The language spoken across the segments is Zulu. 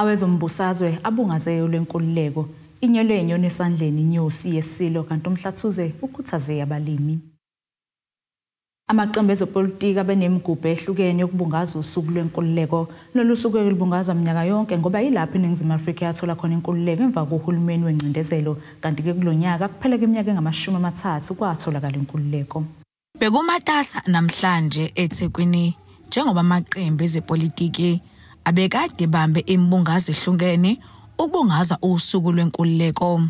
Awezombusazwe abungaze olwenkululeko, inyele inyoni esandleni inyosi yeSilo kanti uMhlathuze ukhuthaze abalimi. Amaqembu ezepolitiki abenemigubho ehlukene yokubungaza usuku lwenkululeko. Lolu suku-ke lubungazwa minyaka yonke ngoba yilapho iNingizimu Afrika yathola khona inkululeko emva kohulumeni wengcindezelo kanti-ke kulo nyaka kuphela kweminyaka engamashumi amathathu kwatholakala inkululeko. Bekumatasa namhlanje eThekwini njengoba amaqembu ezepolitiki abekade bambe imbungazo ehlukene ukubungaza usuku lwenkululeko.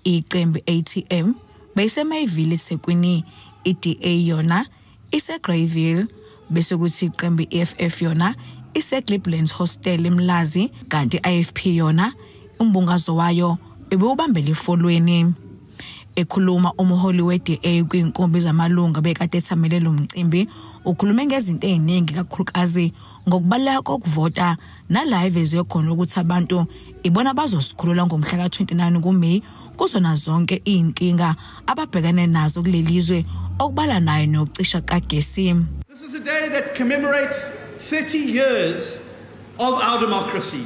Iqembu ATM beyiseMayville eThekwini, iDA yona iseGreyville bese kuthi iqembu iFF yona iseGliblands Hostel eMlazi kanti iFP yona umbungazo wayo ebewubambele eFolweni. Ekhuluma umholi weDA kwinkumbi zamalunga bekade ethamele lo mcimbi ukhulume ngezinto eziningi kakhulukazi ngokubaluleka kokuvota nala evezwe khona ukuthi abantu ibona bazosikhulula ngomhla ka-29 kuMay kuzona zonke izinkinga ababhekene nazo kuleli zwe okubala nayo nokucisha kagesi. This is a day that commemorates 30 years of our democracy.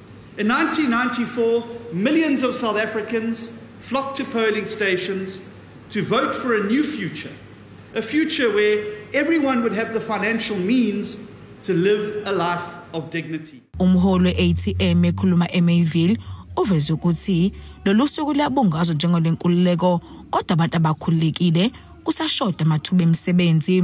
In 1994, millions of South Africans flocked to polling stations to vote for a new future, a future where everyone would have the financial means to live a life of dignity. Umholi we-ATM ekhuluma eMayville uveze ukuthi lolu suku luyabungazwa njengolenkululeko kodwa abantu abakhululekile kusashoda amathuba emisebenzi.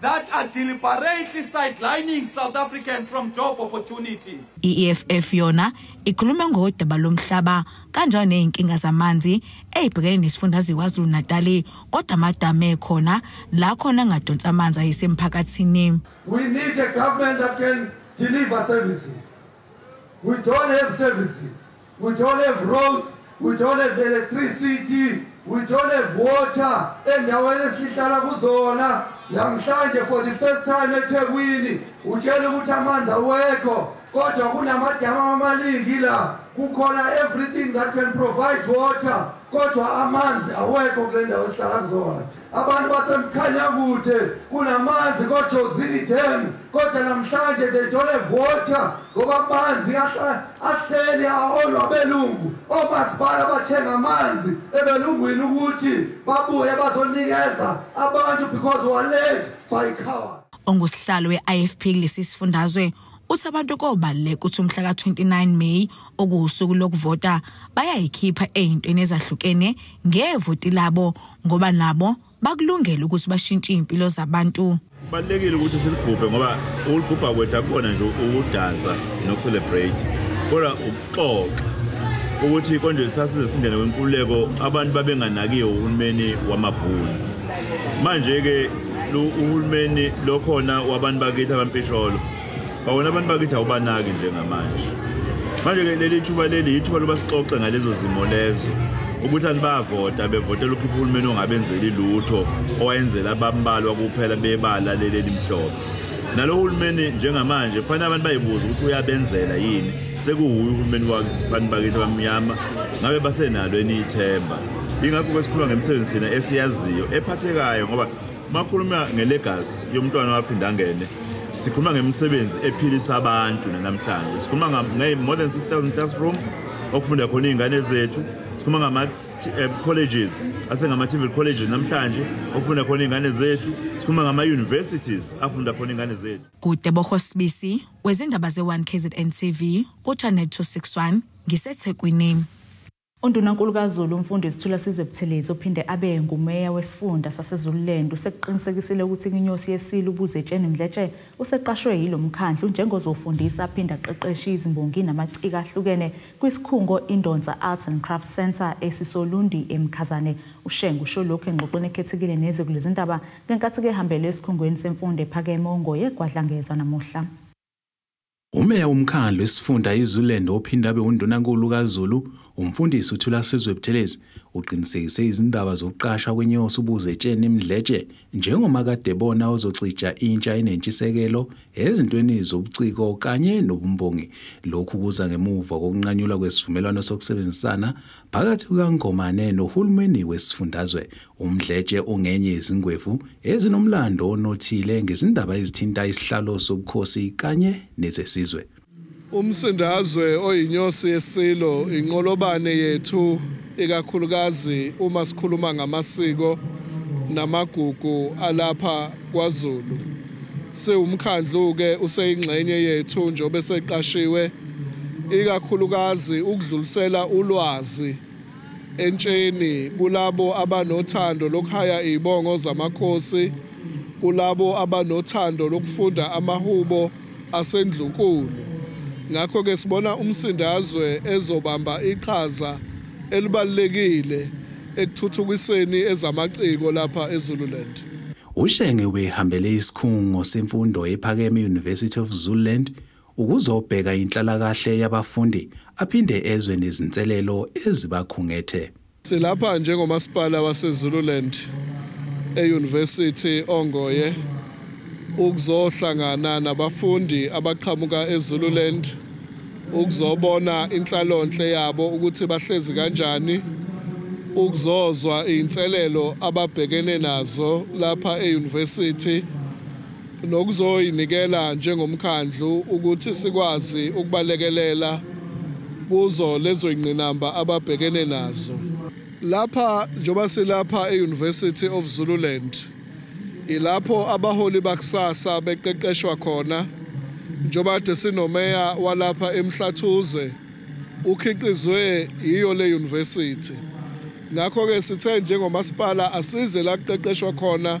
that are deliberately sidelining South Africans from job opportunities. I-EFF yona ikhuluma ngodaba lomhlaba kanjalo nezinkinga zamanzi ezibhekene nesifundazwe KwaZulu-Natal kodwa amadama ekhona la khona angadonsa amanzi ayisemphakathini. We need a government that can deliver services. We don't have services. We don't have roads, we don't have electricity, we don't have water endaweni esihlala kuzona. Namhlanje for the first time eThekwini utshela ukuthi amanzi awekho kodwa kunamadama amaningi la kukhona everything that can provide water kodwa amanzi awekho kule ndawo esihlala kuzona. Abantu baseMkhanyakude kunamanzi koJozini Dam kodwa namhlanje they don't have water ngoba amanzi ahleli aholwa abelungu omasipala bathenga amanzi ebelungwini ukuthi babuye bazonikeza abantu because were led by cowards. ongusihlalo we-ifp kulesi sifundazwe Uthi abantu kobaluleka ukuthi umhla ka-29 May okuwusuku lokuvota bayayikhipha ey'ntweni ezahlukene ngevoti labo ngoba nabo bakulungele ukuthi bashintshe iy'mpilo zabantu kubalulekile ukuthi siligubhe ngoba ukulugubha kwethu akubona nje ukudansa nokucelebrate kodwa ukuxoxa ukuthi konje sasize singene wenkululeko abantu babenganakiwe uhulumeni wamabhunu manje-ke uhulumeni lokhona wabantu bakithi abampisholo bawona abantu bakithi awubanaki njengamanje manje-ke leli thuba leli yithuba loba sixoxe ngalezo zimo lezo ukuthi anibavota bevotela ukhipha uhulumeni ongabenzeli lutho owayenzela abambalwa kuphela bebala leli elimhlophe nalo hulumeni njengamanje kufanele abantu bayibuza ukuthi uyabenzela yini sekuwuye uhulumeni wabantu bakithi abamnyama ngabe basenalo eniyithemba ingakho kwesikhuluma ngemisebenzi thina esiyaziyo ephathekayo ngoba makhuluma ngelegazi yomntwana waphinde angene sikhuluma ngemisebenzi ephilisa abantu nanamhlanje sikhuluma nge-more than 6000 classrooms okufunda khona iy'ngane zethu sikhuluma ngama-colleges eh, asengama-tvl colleges namhlanje okufunda khona iy'ngane zethu sikhuluma ngama-universities afunda khona iy'ngane zethu kude bohosibisi wezindaba ze-1 kzn tv kuchanet 261 ngisethekwini UNdunankulu kaZulu uMfundisi Thulasizwe Buthelezi ophinde abe nguMeya wesifunda saseZululand usekuqinisekisile ukuthi inginyosi yeSILO uBuzetsheni Mdletshe useqashwe yilo mkhandlu njengozofundisa aphinde aqeqeshe izimbongi namaciko ahlukene kwisikhungo iNdonsa Arts and Crafts Centre esisoLundi eMkhazane. UShenge usho lokhu engxoxweni ekhethekile neziko lezindaba ngenkathi kehambele esikhungweni semfundo ephakeme oNgoye KwaDlangezwa namuhla. Umeya womkhandlu isifunda iZululand ophinde abe undunankulu kaZulu, umfundisi uThulasizwe Buthelezi, uqinisekise izindaba zokuqasha kwenyosi uBuzetsheni Mdletshe njengomakadebona ozocija intsha enentshisekelo ezintweni zobuciko kanye nobumbongi. Lokhu kuza ngemuva kokunqanyulwa kwesivumelwano sokusebenzisana phakathi kukaNgomane nohulumeni wesifundazwe Umdletshe ungenye yezingwevu ezinomlando onothile ngezindaba ezithinta isihlalo sobukhosi kanye nezesizwe. Umsindazwe oyinyosi yeSilo inqolobane yethu ikakhulukazi uma sikhuluma ngamasiko namagugu alapha kwaZulu. Siwumkhandlu-ke useyingxenye yethu njengoba eseqashiwe ikakhulukazi ukudlulisela ulwazi entsheni kulabo abanothando lokuhaya izibongo zamakhosi kulabo abanothando lokufunda amahubo asendlunkulu ngakho ke sibona umsindazwe ezobamba iqhaza elibalekile ekuthuthukiseni ezamaciko lapha eZululand Ushenge ubehambele isikhungo semfundo ephakeme University of Zululand ukuzobheka inhlalakahle yabafundi aphinde ezwe nezinselelo ezibakhungethe. Silapha njengomasipala waseZululand e-University Ongoye ukuzohlangana nabafundi abaqhamuka eZululand ukuzobona inhlalonhle yabo ukuthi bahlezi kanjani ukuzozwa izinselelo ababhekene nazo lapha e-University nokuzoyinikela njengomkhandlu ukuthi sikwazi ukubalekelela kuzo lezo ingqinamba ababhekene nazo lapha njengoba silapha e-university of zululand ilapho abaholi bakusasa beqeqeshwa khona njengoba kade sinomeya walapha emhlathuze ukhiqizwe yiyo le university ngakho-ke sithe njengomasipala asize la kuqeqeshwa khona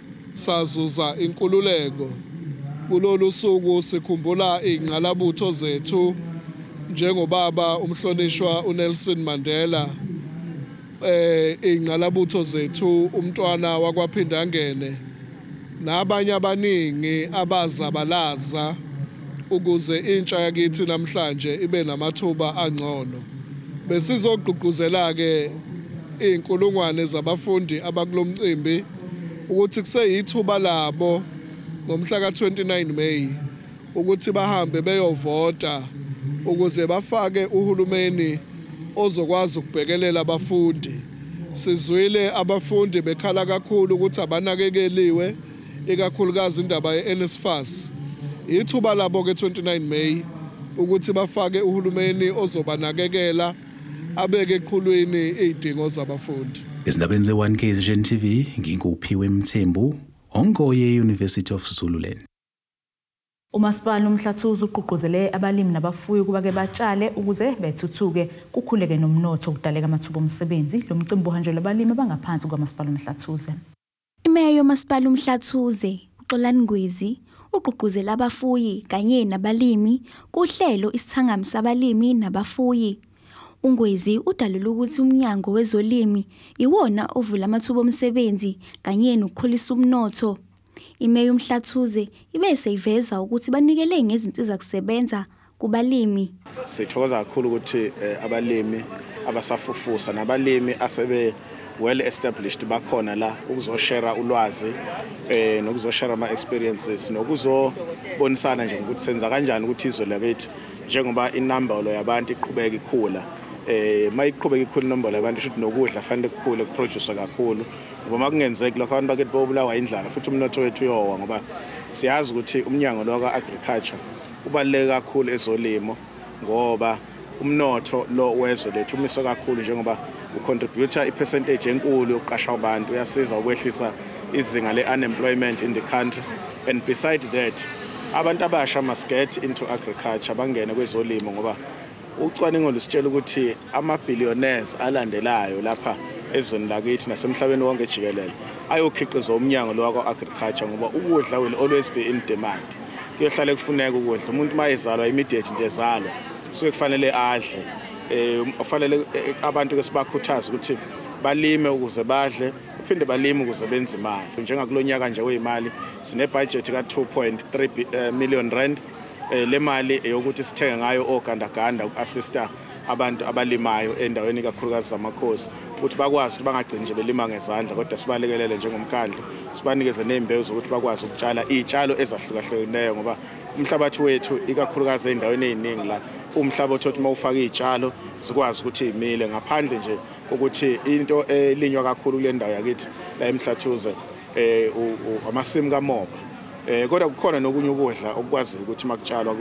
Sazuza inkululeko. Kulolu suku sikhumbula iy'ngqalabutho zethu njengobaba umhlonishwa uNelson Mandela eh ingqalabutho zethu umntwana wakwaphindangene nabanye abaningi abazabalaza ukuze intsha yakithi namhlanje ibe namathuba angcono besizogqugquzela ke izinkulungwane zabafundi abakulomcimbi ukuthi kuseyithuba labo ngomhla ka-29 May ukuthi bahambe beyovota ukuze bafake uhulumeni ozokwazi ukubhekelela abafundi sizwile abafundi bekhala kakhulu ukuthi abanakekeliwe ikakhulukazi indaba ye-NSFAS ithuba labo ke 29 May ukuthi bafake uhulumeni ozobanakekela abeke eqhulwini izidingo zabafundi. Izindabeni ze-1 KZN TV nginguphiwe Mthembu ongoye University of Zululand. Umasipala uMhlathuze ugqugquzele abalimi nabafuyi ukuba ke batshale ukuze bethuthuke kukhuleke nomnotho ukudaleka amathuba omsebenzi. Lo mcimbi uhanjelwe abalimi abangaphansi kwaMasipala uMhlathuze. IMeya yoMasipala uMhlathuze, uXolani Ngwizi, ugqugquzela abafuyi kanye nabalimi kuhlelo isithangami sabalimi nabafuyi. UNgwizi udalule ukuthi uMnyango wezoLimi iwona ovula amathuba omsebenzi kanye nokukhulisa umnotho. IMeya uMhlathuze ibe seyiveza ukuthi banikele ngezinsizakusebenza kubalimi. Sithokoza kakhulu ukuthi eh, abalimi abasafufusa nabalimi asebe well established bakhona la ukuzoshare ulwazi eh nokuzoshare ama experiences nokuzobonisana nje ukuthi senza kanjani ukuthi izwe lakithi njengoba inambolo yabantu iqhubeka ikhula eh mayiqhubeka ikhulu inombolo yabantu shuthi nokudla fanele kukhule kuproduce kakhulu ngoba makungenzeki lokho abantu bakithi bobulawa indlala futhi umnotho wethu uyowa ngoba siyazi ukuthi umnyango lokwa agriculture Kubaluleke kakhulu ezolimo ngoba umnotho lo wezwe lethu umiswe kakhulu njengoba ucontributor ipercentage enkulu yokuqasha abantu uyasiza ukwehlisa izinga le-unemployment in the country and beside that abantu abasha must get into agriculture bangene kwezolimo ngoba Ucwaningo lusitshela ukuthi ama-billionaires alandelayo lapha ezweni lakithi nasemhlabeni wonke jikelele ayokhiqizwa umnyango lo wakwa-agriculture ngoba ukudla will always be in demand kuyohlale kufuneka ukudla umuntu uma ezalwa immediate nje ezalwa suke kufanele adle um kufanele eh, abantu ke sibakhuthaze ukuthi balime ukuze badle baphinde balime ukuze benze imali njengakulo nyaka nje weyimali sinebhajethi ka-2.3 eh, million rand Eh, le mali eyokuthi sithenge ngayo ogandaganda uku-assista abantu abalimayo endaweni ikakhulukazi zamakhosi ukuthi bakwazi ukuthi bangagcini nje belima ngezandla kodwa sibalekelele njengomkhandlu sibanikeze ney'mbewu zokuthi bakwazi ukutshala iy'tshalo ezahlukahlukeneyo ngoba umhlabathi wethu ikakhulukazi ey'ndaweni ey'ningi la umhlaba othi uma ufaka iy'tshalo zikwazi ukuthi y'mile ngaphandle nje kokuthi into elinywa kakhulu kule ndawo yakithi la emhlathuze eh amasimu kamoba eh kodwa kukhona nokunye ukudla okukwazi ukuthi makutshalwa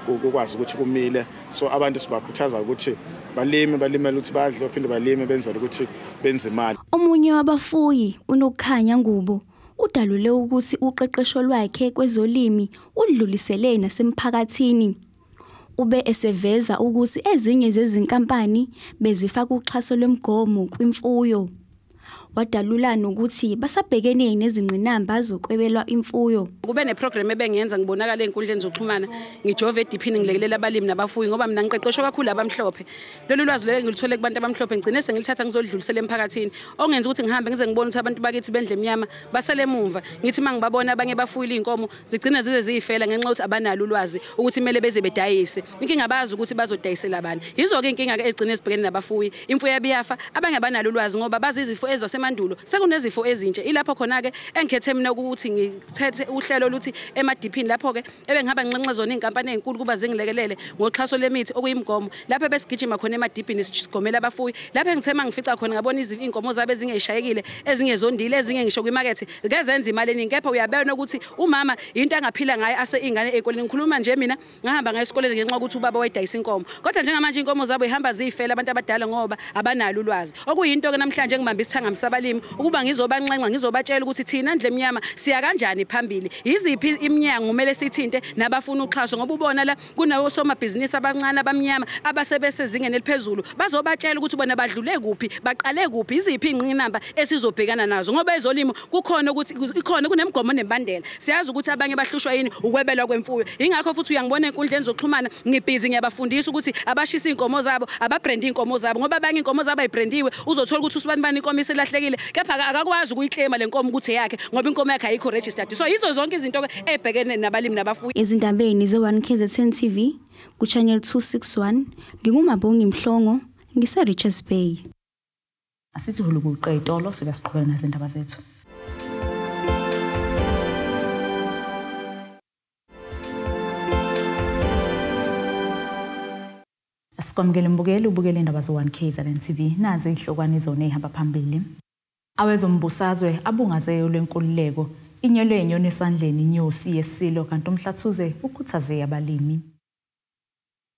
kukwazi ukuthi kumile so abantu sibakhuthaza ukuthi balime balimele ukuthi badle baphinde balime benzele ukuthi benze imali omunye wabafuyi unokukhanya ngubo udalule ukuthi uqeqesho lwakhe kwezolimi udlulisele nasemphakathini Ube eseveza ukuthi ezinye zezinkampani bezifaka uxhaso lwemgomo kwimfuyo. Wadalula nokuthi basabhekene nezingqinamba zokwebelwa imfuyo. Kube neprogram ebengiyenza ngibonakala ezinkundleni zokuxhumana ngijove ediphini ngilekelela abalimi nabafuyi ngoba mina ngiqeqeshwe kakhulu abamhlophe. Lolu lwazi lelo ngilithole kubantu abamhlophe ngigcine sengilithatha ngizolidlulisela emphakathini ongenza ukuthi ngihambe ngize ngibone ukuthi abantu bakithi bendle emnyama basele emuva. Ngithi mangibabona abanye bafuyile izinkomo zigcina zize ziyifela ngenxa yokuthi abanalo ulwazi ukuthi kumele beze bedayise inkinga abazi ukuthi bazodayisela abantu yizo-ke inkinga ke egcine ezibhekene nabafuyi imfuyo yabiyafa abanye abanalo ulwazi ngoba bazi izifo ezasemandulo sekunezifo ezintsha ilapho khona-ke engikhethe mina ukuthi ngithethe uhlelo oluthi emadiphini lapho-ke ebengihamba nginxenxe zona iy'nkampani ey'nkulu kuba zingilekelele ngoxhaso lemithi okuyimgomo lapho ebesigijima khona emadiphini sigomela abafuyi lapho engithe uma ngifica khona ngabona iy'nkomo zabe zingeyishayekile ezingezondile ezinye ngisho kwimakethe kezenza imali eningi kepha uyabona ukuthi umama yinto angaphila ngayo ase ingane ezikoleni ngikhuluma nje mina ngahamba ngayo esikoleni ngenxa ukuthi ubaba wayidayisa inkomo kodwa njengamanje inkomo zabo ihamba ziyifela abantu abadala ngoba abanalo ulwazi okuyinto ke namhlanje engibamba isithanga msabalimi ukuba ngizobanxenxa ngizobatshela ukuthi thina ndle emnyama siya kanjani phambili yiziphi iminyango kumele sithinte nabafuna uxhaso ngoba ubona la kunawosomabhizinisi abancane abamnyama abasebesezingeni eliphezulu bazobatshela ukuthi bona badlule kuphi baqale kuphi iziphi ingqinamba esizobhekana nazo ngoba ezolimo kukhona ukuthi ikhona kunemigomo nembandela siyazi ukuthi abanye bahlushwa yini ukwebelwa kwemfuyo ingakho futhi uyangibona enkundleni zokuxhumana ngibhizi ngiyabafundisa ukuthi abashisa inkomo zabo ababrande inkomo zabo ngoba abanye inkomo zabo ayibrandiwe uzothola ukuthi usibani bani inkomo isilahlekile kepha akakwazi ukuyiclaima lenkomo ukuthi yakhe ngoba inkomo yakhe ayikho registered so yizo zonke izinto ebhekene nabalimi nabafuyi. Ezindabeni ze-1 KZN TV kuChannel 261 nginguMabongi Mhlongo ngiseRichards Bay. Asizihulu kuqe itolo sibe siqhubeka nezindaba zethu. Sikwamukele mbukeli ubukele indaba zo-1 KZN TV nazi izihlokwane zone ihamba phambili. Awezombusazwe abungaze eyo lwenkululeko, inyelwe inyoni esandleni inyosi yeSilo kanti uMhlathuze ukhuthaze eyabalimi.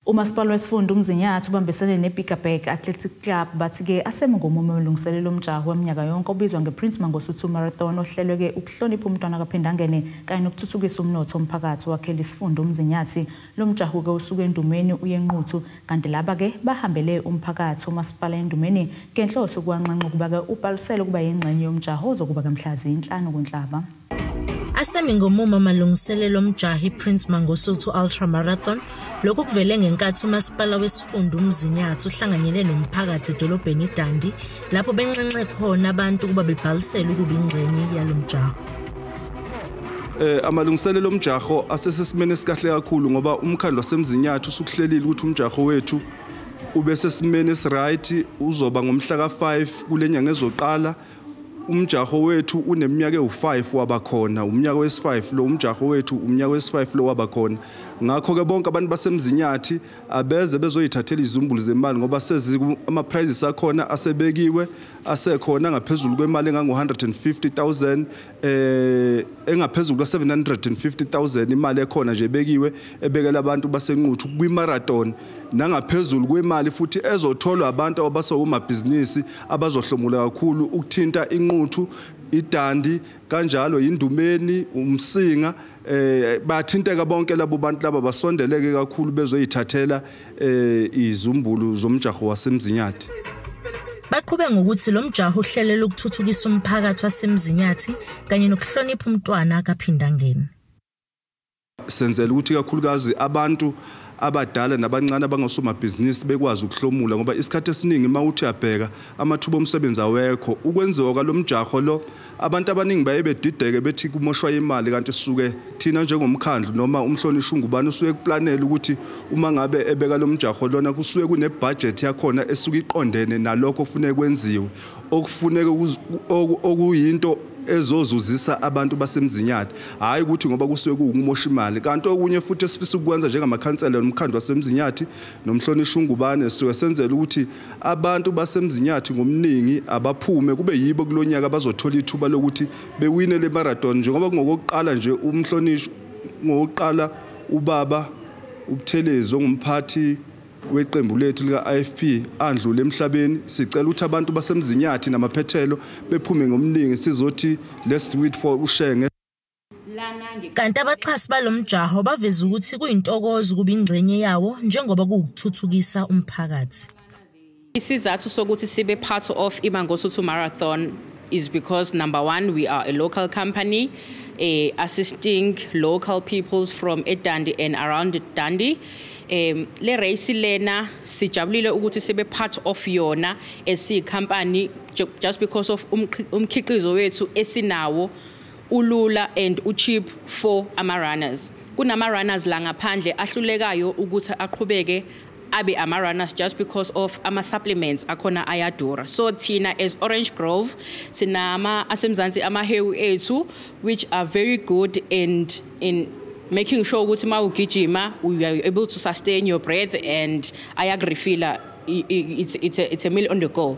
Umasipala wesifunda uMzinyathi ubambisene neBiggerberg Athletic Club bathi ke aseme ngomumo amalungiselelo omjaho waminyaka yonke obizwa ngePrince Mangosuthu Marathon ohlelwe ke ukuhlonipha umntwana kaPhindangene kanye nokuthuthukisa umnotho womphakathi owakhela isifunda uMzinyathi Lo mjaho-ke usuka eNdumeni uye eNquthu kanti laba-ke bahambele umphakathi womasipala eNdumeni ngenhloso yokuwanxenxa ukuba-ke ubhalisele ukuba yingxenye yomjaho ozokuba-ke mhla ziyinhlanu kuNhlaba. Asemi ngomumo amalungiselelo omjaho iPrince Mangosuthu Ultra Marathon. Lokhu kuvele ngenkathi uMasipala wesiFunda uMzinyathi uhlanganyele nomphakathi edolobheni iDundee lapho benxenxe khona abantu ukuba bebhalisele ukuba ingxenye yalo mjaho. eh amalungiselelo omjaho asesesimene sikahle kakhulu ngoba umkhandlo wasemzinyathi usukuhlelile ukuthi umjaho wethu ube sesimene esiright uzoba ngomhla ka5 kulenyanga ezoqala umjaho wethu uneminyaka ewu5 wabakhona umnyaka wesi5 lo umjaho wethu umnyaka wesi5 lo wabakhona ngakho ke bonke abantu basemzinyathi abeze bezoyithathela izumbulu zemali ngoba sezi ama prizes akhona asebekiwe asekhona ngaphezulu kwemali engango-150,000 eh engaphezulu kwa-750,000 imali ekhona nje bekiwe ebekela abantu basenquthu kwi-marathon nangaphezulu kwemali futhi ezotholwa abantu abasewumabhizinisi abazohlomula kakhulu ukuthinta inquthu idandi kanjalo yindumeni umsinga eh bathinteka bonke labo bantu laba basondeleke kakhulu bezoyithathela eh izumbulu zomjaho wasemzinyathi Baqhube ngokuthi lo mjaho uhlelela ukuthuthukisa umphakathi wasemzinyathi kanye nokuhlonipha umntwana kaphindangeni Senzela ukuthi kakhulukazi abantu abadala nabancane abangosomabhizinisi bekwazi ukuhlomula ngoba isikhathi esiningi uma uthi uyabheka amathuba omsebenzi awekho ukwenziwa kwalo mjaho lo abantu abaningi baye bedideke bethi kumoshwa imali kanti suke thina njengomkhandlu noma umhlonishwa ungubani usuke kuplanela ukuthi uma ngabe ebeka lo mjaho lona kusuke kunebhajethi yakhona esuke iqondene nalokho ofuneka kwenziwe okufuneka okuyinto ezozuzisa abantu basemzinyane hayi ukuthi ngoba kusuke kuwukumosha imali kanti okunye futhi esifisa ukwenza njengamakhansela nomkhandlu wasemzinyathi nomhlonishwa ungubane sisuke senzela ukuthi abantu basemzinyathi ngomningi abaphume kube yibo kulonyaka abazothola ithuba lokuthi bewine le marathon njengoba kungokokuqala nje umhlonishwa ngokuqala ubaba ubuthelezi ongumphathi weqembu lethu lika-ifp andlule emhlabeni sicela ukuthi abantu basemzinyathi namaphethelo bephume ngomningi sizothi let's do it for ushenge kanti abaxhasi balo mjaho baveza ukuthi kuyintokozo ukuba ingxenye yawo njengoba kuwukuthuthukisa umphakathi Isizathu sokuthi sibe part of iMangosuthu Marathon is because number one, we are a local company uh, assisting local peoples from Edandi and around Dandi. Um, le race lena sijabulile ukuthi sibe part of yona esiyicompany just because of umkhiqizo wethu esinawo ulula and ucheap for ama runners kunama runners la ngaphandle ahlulekayo ukuthi aqhubeke abe ama-runners just because of ama-supplements akhona ayadura so thina as orange grove sinama asemzansi amahewu ethu which are very good and in making sure ukuthi uma ugijima you are able to sustain your breath and ayakurefila it's, it's, a, it's a meal on the go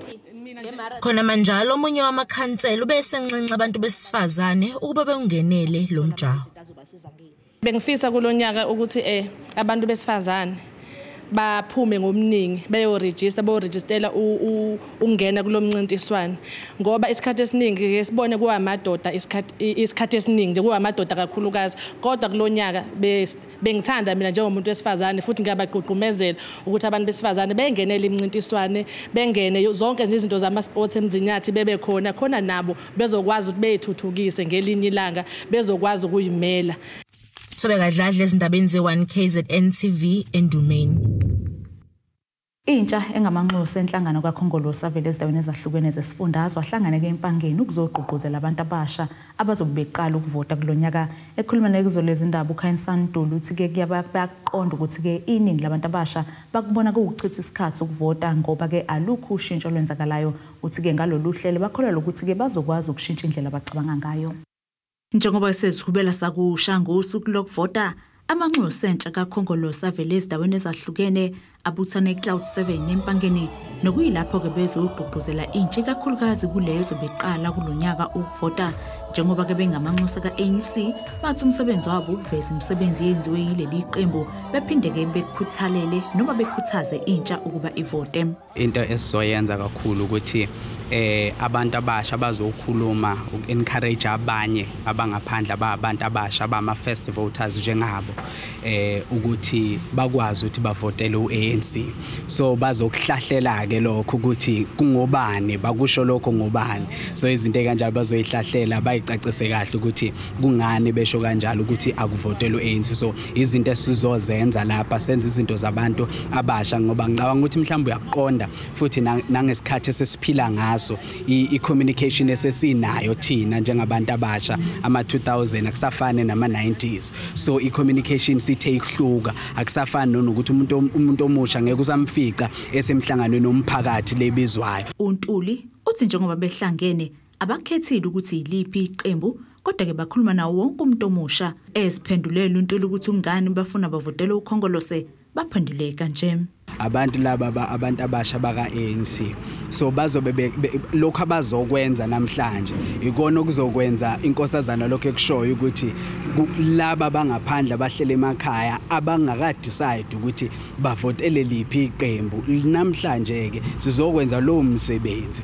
khona manjalo omunye wamakhansela ube esenxenxa abantu besifazane ukuba beungenele lo mjaho Bengifisa kulonyaka ukuthi eh abantu besifazane baphume ngobuningi beyoregister boregistela ukungena kulomncintiswano ngoba isikhathi esiningi ke sibone kuwamadoda isikhathi isikhathi esiningi nje kuwamadoda kakhulukazi kodwa kulonyaka bengithanda mina njengomuntu wesifazane futhi ngiyabagqugqumezela ukuthi abantu besifazane bengenele imncintiswane bengene zonke izinto zama sports emzinyathi bebe khona khona nabo bezokwazi ukuthi beyithuthukise ngelinye ilanga bezokwazi ukuyimela Thobe kadladla ezindabeni ze1 KZN TV endumeni Intsha engamanxusa enhlangano kaKhongolose avele ezindaweni ezahlukene zesifundazwe ahlangane ke empangeni ukuzogqugquzela abantu abasha abazobe beqala ukuvota kulonyaka ekhuluma nekuzolezi indaba uKhainsan Ntuli uthi ke kuyabaqonda ukuthi ke iningi labantu abasha bakubona kuwuchitha isikhathi ukuvota ngoba ke alukho ushintsho lwenzakalayo Uthi-ke ngalolu hlelo bakholelwa ukuthi-ke bazokwazi ukushintsha indlela abacabanga ngayo. Njengoba esezihubela sakusha ngosuku lokuvota, amanxusa entsha kaKhongolose avele ezindaweni ezahlukene abuthana eCloud 7 eMpangeni nokuyilapho-ke bezogqugquzela intsha ikakhulukazi kuleyo ezobe iqala kulo nyaka ukuvota njengoba-ke bengamanxusa ka-anc bathi umsebenzi wabo ukuveza imisebenzi eyenziwe yileli qembu bephinde-ke bekukhuthalele noma bekhuthaze intsha ukuba ivote into esizoyenza kakhulu ukuthi eh abantu abasha bazokhuluma ukencourage abanye abangaphandle ababantu abasha abama first voters njengabo eh ukuthi bakwazi ukuthi bavotele uANC so bazokuhlahlela ke lokho ukuthi kungobani bakusho lokho ngobani so izinto kanjalo bazoyihlahlela bayicacise kahle ukuthi kungani besho kanjalo ukuthi akuvotele uANC so izinto esizozenza lapha senza izinto zabantu abasha ngoba ngicabanga ukuthi mhlawumbe uyakuqonda futhi nangesikhathi esesiphila ngaso i-communication esesinayo thina njengabantu abasha ama-2000 akusafane nama-90s so i-communication sithe ikuhluka akusafani nonokuthi umuntu umuntu omusha ngeke usamfica esemhlanganweni omphakathi lebizwayo uNtuli uthi njengoba behlangene Abakhethile ukuthi yiliphi iqembu kodwa ke bakhuluma nawo wonke umuntu omusha eziphendulela untuli ukuthi ungani bafuna bavotele ukhongolose baphendule kanje abantu laba abantu abasha baka-ANC so bazobe lokho abazokwenza namhlanje ikona okuzokwenza inkosazana lokho ekushoyo ukuthi laba bangaphandle abahlele emakhaya abangakadecide ukuthi bavotele liphi iqembu namhlanje-ke sizokwenza lowo msebenzi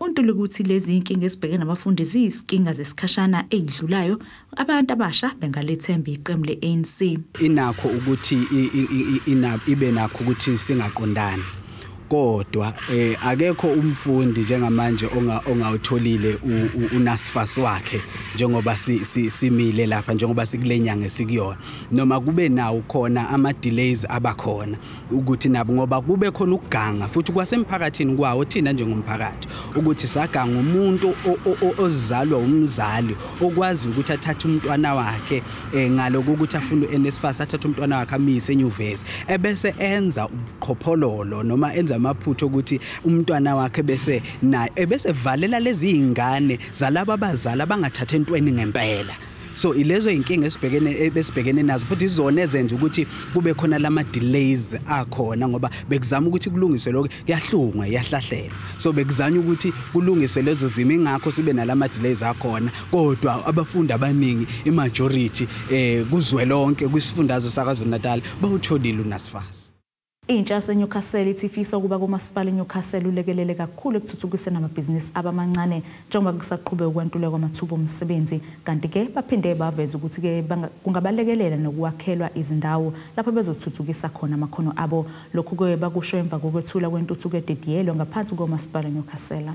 Untuli ukuthi lezi inkinga esibheke nabafundi ziyisinkinga zesikhashana eyidlulayo abantu abasha bengalethemba iqembu le-ANC inakho ukuthi ibe nakho ukuthi singaqondani kodwa eh akekho umfundi njengamanje onga ongawutholile unasifas wakhe njengoba simile lapha njengoba sikulenyanga esikuyona noma kube nawo khona ama delays abakhona ukuthi nabo ngoba kube khona ukuganga futhi kwasemphakathini kwawo thina njengomphakathi ukuthi saganga umuntu ozizalwa umzali okwazi ukuthi athathe umntwana wakhe eh, ngaloku ukuthi afune uNSFAS athathe umntwana wakhe amise enyuvesi ebese enza ubuqhophololo noma enza amaphutho ukuthi umntwana wakhe bese naye ebese valela lezi zingane zalabo abazali abangathathe entweni ngempela so ilezo inkinga esibhekene ebesibhekene nazo futhi izona ezenza ukuthi kube khona lama delays akhona ngoba bekuzama ukuthi kulungiswe lokho kuyahlungwa yahlahlelwa so bekuzanya ukuthi kulungiswe lezo zimo ingakho sibe nalama delays akhona kodwa abafundi abaningi imajority eh kuzwelonke kwisifundazwe sakaZulu Natal bawutholile unasifasi Intsha yaseNewcastle ithi ifisa ukuba komasipala iNewcastle ulekelele kakhulu ekuthuthukiseni amabhizinisi abamancane njengoba kusaqhube ukwantulwa kwamathuba omsebenzi kanti ke baphinde baveza ukuthi ke kungabalekelela nokuwakhelwa izindawo lapho bezothuthukisa khona amakhono abo lokhu ke bakusho emva kokwethula kwentuthuko edidiyelwe ngaphansi komasipala Newcastle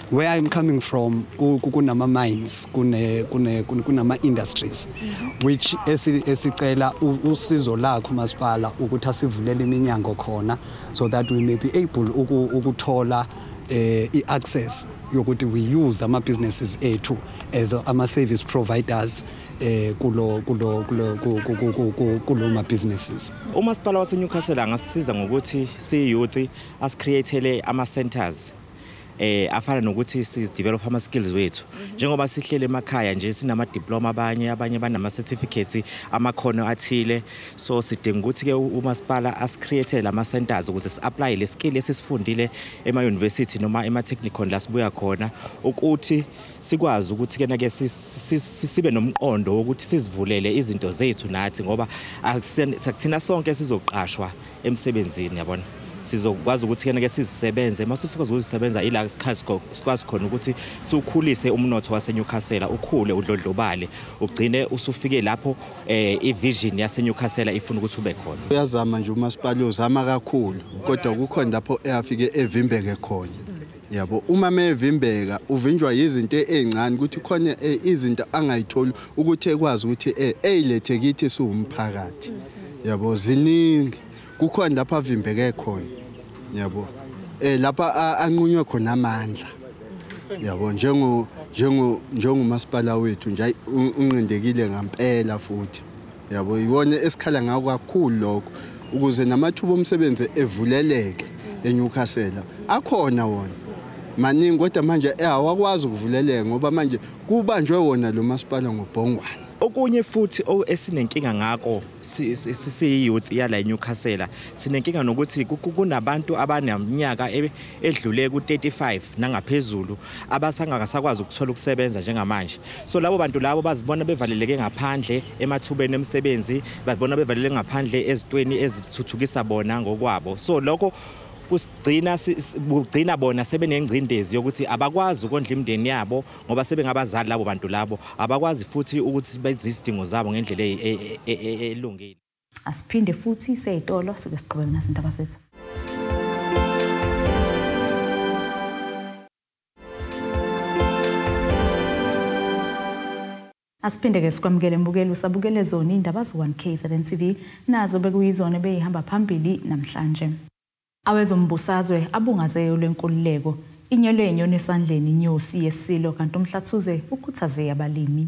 where i'm coming from kunama mines kune kune kunama industries which esicela usizo lakho masipala ukuthi asivulele iminyango khona so that we may be able ukuthola eh, i-access yokuthi we use ama businesses ethu as ama service providers eh kulo kulo kulo kulo ma businesses umasipala wase Newcastle angasisiza ngokuthi si youth as createle ama centers eh afana nokuthi si develop ama skills wethu mhm. njengoba sihlele emakhaya nje sinama diploma abanye abanye banama certificates amakhono athile so sidinga ukuthi ke umasipala as create lama centers ukuze si apply le skill esisifundile ema university noma ema technical la sibuya khona ukuthi sikwazi ukuthi kena ke sibe nomqondo wokuthi sizivulele izinto zethu nathi ngoba akuthina sonke sizoqashwa emsebenzini yabona sizokwazi ukuthi kena ke sizisebenze uma sesikwazi ukuzisebenza ila sikwazi khona ukuthi siwukhulise umnotho waseNewcastle ukhule udlodlobale ugcine usufike lapho eh ivision yaseNewcastle ifuna ukuthi ube khona uyazama nje umasipala uzama kakhulu kodwa kukhona lapho eyafike evimbeke khona yabo uma mevimbeka uvinjwa yizinto ezincane ukuthi khona eh, izinto angayitholi ukuthi ekwazi ukuthi eh, eyilethe kithi siwumphakathi yabo ziningi kukhona lapha avimbeke khona yabo eh lapha anqunywe khona amandla yabo njengo njengo njengomasipala wethu nje unqindekile ngampela futhi yabo yiwona esikhala ngako kakhulu lokho ukuze namathuba omsebenzi evuleleke eNewcastle akhona wona maningi kodwa manje eh, awakwazi ukuvuleleka ngoba manje kubanjwe wona lo masipala ngobhongwane okunye futhi esinenkinga ngako sisiyouth yala eNewcastle sinenkinga nokuthi kunabantu abaneminyaka edlule ku-35 nangaphezulu abasangasakwazi ukuthola ukusebenza njengamanje so labo bantu labo bazibona bevaleleke ngaphandle emathubeni emisebenzi bazibona bevaleleke ngaphandle ezitweni ezithuthukisa bona ngokwabo so lokho kusigcina kugcina bona sebenengcindezi yokuthi abakwazi ukondla imndeni yabo ngoba sebengabazali labo bantu labo abakwazi futhi ukuthi bezizidingo zabo ngendlela e, e, e, elungile Asiphinde futhi seyitolo sike siqhubeke nazindaba zethu. Asiphinde ke sikwamukele mbukeli usabukele zona indaba zo1 KZN TV nazo bekuyizona beyihamba phambili namhlanje. Awezombusazwe abungazeyo lwenkululeko inyelwe inyoni esandleni inyosi yesilo kanti umhlathuze ukhuthaze abalimi.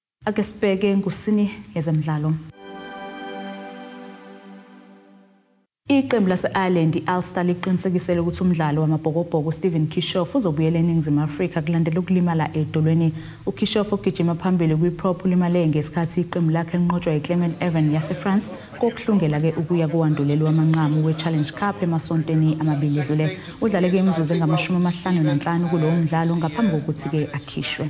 Ake sibheke ngusini yezemidlalo. Iqembu lase-Ireland i-Ulster liqinisekisele ukuthi umdlalo wamabhokobhoko uStephen Kishoff uzobuyela eNingizimu Afrika kulandela ukulimala edolweni. UKishoff ogijima phambili kwi-prop ulimale ngesikhathi iqembu lakhe linqotshwa yiClement Evan yaseFrance kokuhlungela-ke ukuya kowanduleli wamanqamu we-Challenge Cup emasontweni amabili edlule. Udlale-ke imizuzu engamashumi amahlanu nanhlanu kulowo mdlalo ngaphambi kokuthi-ke akhishwe.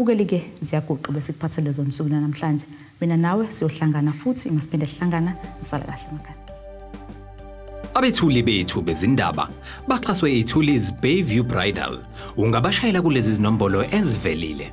Mukelike ziyaguqa bese kuphathe lezo nsuku namhlanje. Mina nawe siyohlangana futhi masiphinde sihlangana sisale kahle makhaya. Abethuli bethu bezindaba baxhaswe iThuli's Bayview Bridal. Ungabashayela kulezi zinombolo ezivelile.